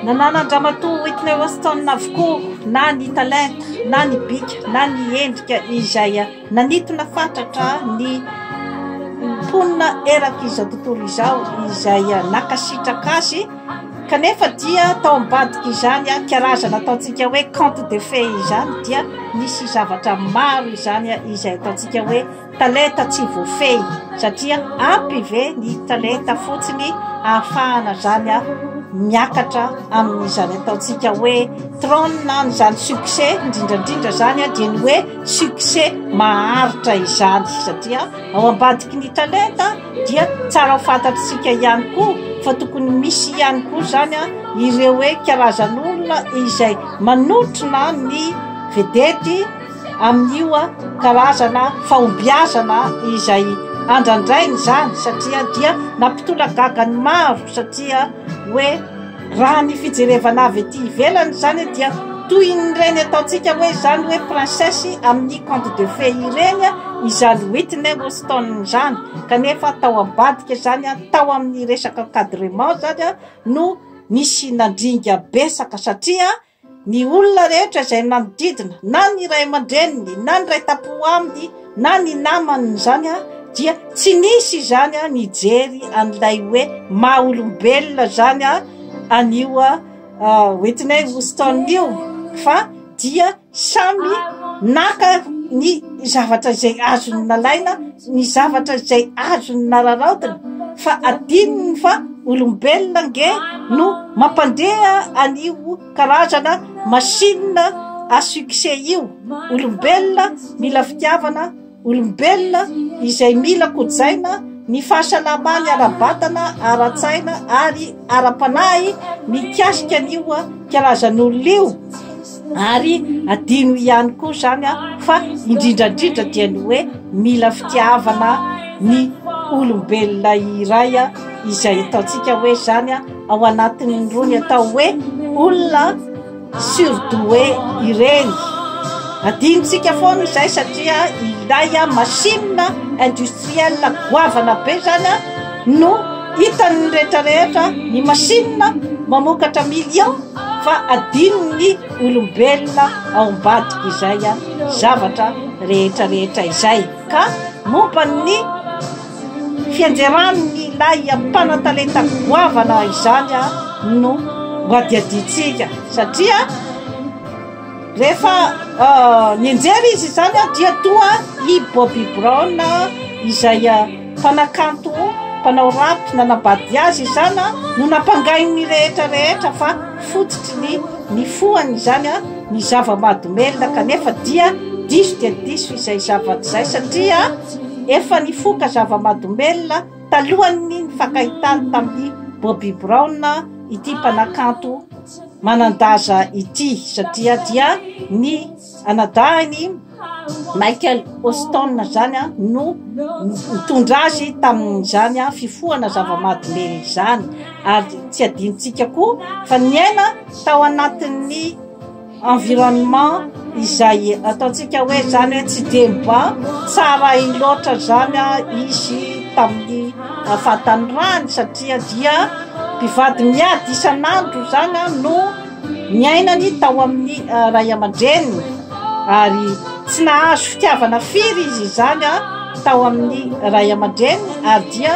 Nanana an-dramatoa Whitney Houston avokoa na ny talenta, na ny bika, na ny endrika izay nanitona fatratra ny mponina erak'izao tontolo izao izay nankasitraka azy kanefa dia tao ambadika izany karazana ataontsika hoe conte de fées izany dia nisy zavatra maro izany izay ataontsika hoe Talenta tsy voafehy satria ampy ve ny talenta fotsiny ahafahana zany miakatra amin'izany ataontsika hoe trône an'izany succès indrindra indrindra zany dia ny hoe succès maharitra izany satria ao ambadiky ny talenta dia tsara ho fantatr'isika ihany koa fa tokony misy ihany koa zany ireo hoe karazan'olona izay manotrona ny vedety amin'io karazana fahombiazana izay andrandrainy izany satria dia nampitolagaga ny maro satria hoe raha ny fijerevana avy ety ivelany izany dia toy ireny ataontsika hoe izany hoe princesse amin'ny conte de fey ireny izany Whitney Houston izany kanefa tao ambadika izany ary tao amin'ny resaka encadrement izany no nisy nandringa betsaka satria Ny olona rehetra izay manodidina, na ny ray aman-dreniny, na ny ray tampo aminy, na ny namany izany dia tsy nisy izany nijery an'ilay hoe maha olombelona izany an'io Whitney Houston io fa dia samy naka ny ny zavatra izay azony nalaina, ny zavatra izay azony nararaotina, fa adinony fa olombelona nge no mampandeha an'io karazana machine à succès io. Olombelona mila fitiavana, olombelona izay mila kojaina ny fahasalamany ara-batana, ara-tsaina ary ara-panahy mikasika an'io karazan'olona io. Ary adino ihany koa izany fa indrindra indrindra dia ny hoe mila fitiavana ny olombelona iray izay ataontsika hoe izany ao anatin'ny rony atao hoe olona surdoue ireny. Adinontsika foana izay satria ilay machine industrielle goavana be izany no hitan'ny rehetra rehetra ny machine mamokatra millions. fa adinon'ny olombelona ao ambadika izay zavatra rehetra rehetra izay ka momba ny fianjeran'ny ilay mpanatalenta goavana izany no ho adiadintsika satria Rehefa nianjera izy izany dia toa i Bobby Brown izay mpanakanto mpanao rap nanambady azy izany no nampangain'ny rehetra rehetra fa fototry ny nifohany izany ny zava-mahadomelina kanefa dia diso dia diso izay zavatra izay satria efa nifoka zava-mahadomelina talohan'ny nifankahitany tamin'i Bobby Brown ity mpanakanto manan-daza ity satria dia ny anadahiny Michael Hoston izany no nitondra azy tamin'izany fifohana zava-mahadomelina izany ary tsy adinontsika koa fa niaina tao anatin'ny environnement izay ataontsika hoe izany hoe tsy dia mba tsara loatra izany izy tamin'ny Vatanirahany satria dia mpivady miady isan'andro izany no niainany tao amin'ny ray aman-dreniny ary tsy nahazo fitiavana firy izy izany tao amin'ny ray aman-dreniny ary dia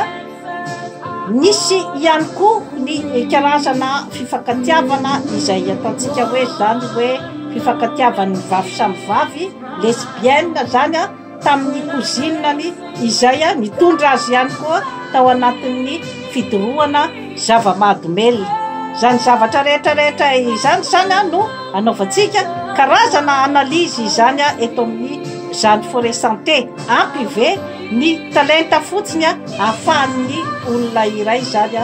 nisy ihany koa ny karazana fifankatiavana izay ataontsika hoe izany hoe fifankatiavan'ny vavy samy vavy, lesbienne, izany an! tamin'ny cousine-ny izay nitondra azy ihany koa tao anatin'ny fidorohana zava-mahadomelina. Izany zavatra rehetra rehetra izany izany no anaovantsika karazana analyse izany eto amin'ny Zany Forêt Santé. Ampy ve ny talenta fotsiny ahafahan'ny olona iray izany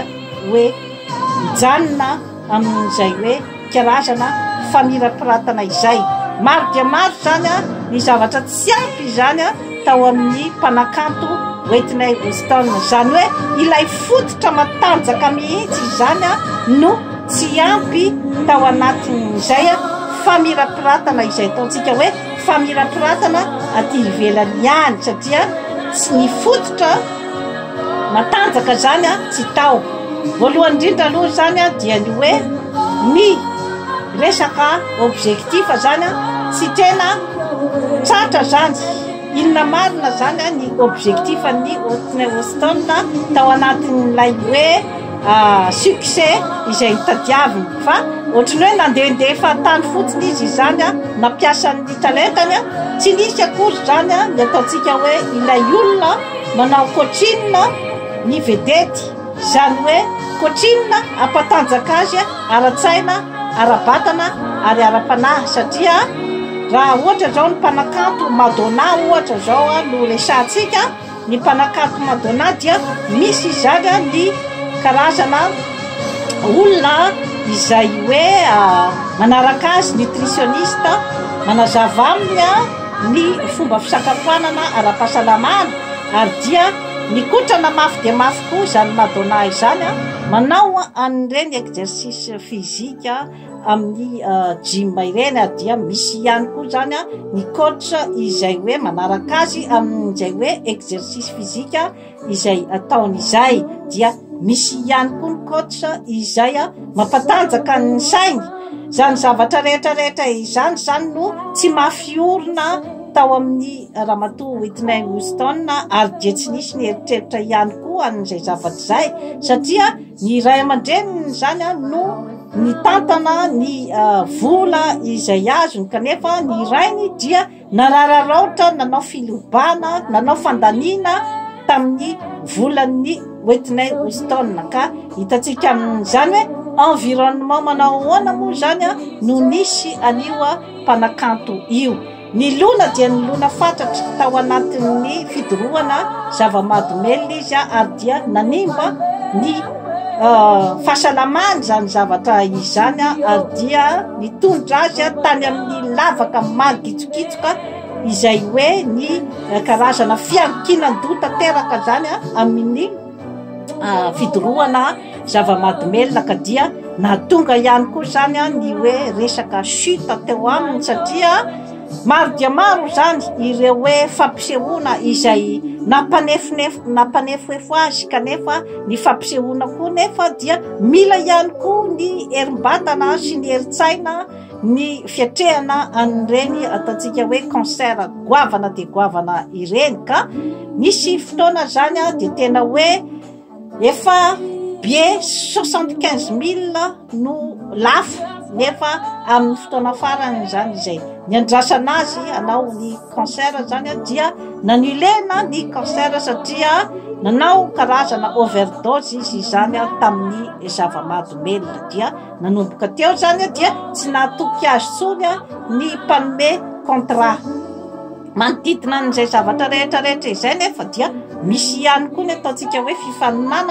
hoe mijanona? amin'izay hoe karazana famirapiratana izay. Maro dia maro izany ny zavatra tsy ampy izany tao amin'ny mpanakanto Whitney Houston. Izany hoe ilay fototra matanjaka mihitsy izany no tsy ampy tao anatin'izay famirapiratana izay ataontsika hoe famirapiratana aty ivelany ihany satria tsy ny fototra Matanjaka izany tsy tao. Voalohany indrindra aloha izany dia ny hoe ny resaka objectif izany tsy tena tratra izany. Inona marina izany ny objectif an'ny Whitney Houston tao anatin'ilay hoe succès izay notadiaviny. Fa ohatran'ny hoe nandehandeha tany fotsiny izy izany, nampiasa ny talentany. Tsy nisy akory izany ny ataontsika hoe ilay olona. Manao coaching ny vedety, izany hoe coaching hampatanjaka azy ara-tsaina, ara-batana ary ara-panahy satria raha ohatra izao ny mpanakanto Madonna ohatra izao no resahantsika, ny mpanakanto Madonna dia misy izany ny karazana olona izay hoe manaraka azy, nutritionniste, manazava aminy. ny fomba fisakafoanana ara-pahasalamana ary dia mikotrana mafy dia mafy koa izany Madonna izany an! Manao an'ireny exercice physique amin'ny gym ireny ary dia misy ihany koa izany an ny coach izay hoe manaraka azy amin'izay hoe exercice physique. izay ataony izay dia misy ihany koa ny coach izay a mampatanjaka ny sainy izany zavatra rehetra rehetra izany izany no tsy mafy orina tao amin'ny ramatoa Whitney Houston ary dia tsy nisy ny eritreritra ihany koa an'izay zavatra izay satria ny ray aman-dreniny izany a no nitantana ny uh, vola izay azony kanefa ny rainy dia Narararaotra nanao filobana, nanao fandaniana tamin'ny volan'ny Whitney Houston ka hitantsika amin'izany hoe environnement manao ahoana moa izany no nisy an'io mpanakanto io. Nilona dia nilona fatratra tao anatin'ny fidorohana zava-mahadomelina izy ary dia nanimba ny fahasalamany izany zavatra izany ary dia Nitondra azy tany amin'ny lavaka mangitsokitsoka izay hoe ny karazana fiankinan-doha tanteraka izany amin'ny fidorohana zava-mahadomelina ka dia nahatonga ihany koa izany ny hoe resaka chute teo aminy satria Maro dia maro izany ireo hoe fampisehoana izay nampanefonefo nampanefoefo azy kanefa ny fampisehoana koa nefa dia mila ihany koa ny herim-batana sy ny herin-tsaina ny fiatrehana an'ireny ataontsika hoe concert goavana dia goavana ireny ka nisy fotoana izany dia tena hoe Efa bye soixante quinze mille no lafo nefa amin'ny fotoana farany izany izay niandrasana azy hanao ny concert izany dia nanilena ny concert satria nanao karazana overdose izy izany tamin'ny zava-mahadomelina dia nanomboka teo izany dia tsy nahatoky azy intsony ny mpanome contrat Manodidina an'izay zavatra rehetra rehetra izay nefa dia misy ihany koa ny ataontsika hoe fifaninanana.